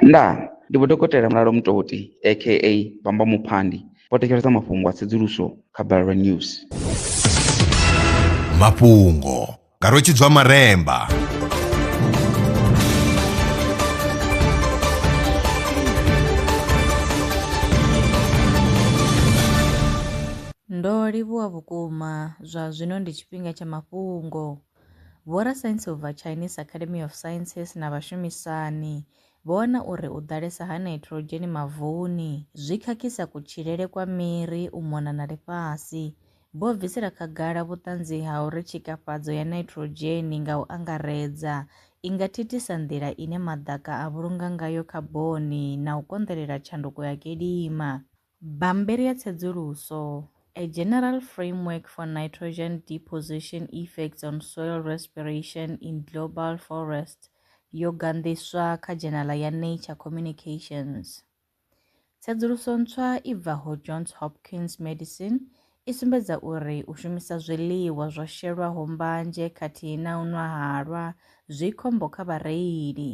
Ndaa! Ndi Vho Dokotela Mulalo Mutoti aka Bamba Muphandi vho thetshelesa mafhungo a tsedzuluso kha Balelwa News. Mafhungo nga Rwetshidzwa Maremba. Ndo livhuwa vhukuma. Zwa zwino ndi tshifhinga tsha mafhungo. Vhorasaintsi u bva Chinese Academy of Sciences na vhashumisani vho wana uri u ḓalesa ha nitrogen mavuni zwi khakhisa kutshilele kwa miri u mona na ḽifhasi. Vho bvisela khagala vhuṱanzi ha uri tshikafhadzo ya nitrogen nga u angaredza i nga thithisa nḓila ine maḓaka a vhulunga ngayo khaboni na u konḓelela tshanduko ya kilima. Bammbiri ya tsedzuluso, A General Framework for Nitrogen Deposition Effects on Soil Respiration in Global Forests yo ganḓiswa kha dzhenala ya Nature Communications. Tsedzuluso ntswa i bvaho Johns Hopkins Medicine I sumbedza uri u shumisa zwiḽiwa zwo shelwaho mbanzhe khathihi na u nwa halwa zwi khombo kha vhareili.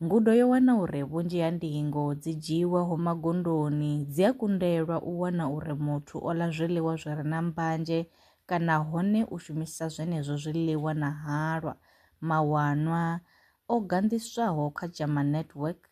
Ngudo yo wana uri vhunzhi ha ndingo dzi dzhiiwaho magondoni dzi a kundelwa u wana uri muthu o ḽa zwiḽiwa zwi re na mbanzhe kana hone u shumisa zwenezwo zwiḽiwa na halwa. Mawanwa o ganḓiswaho kha JAMA Network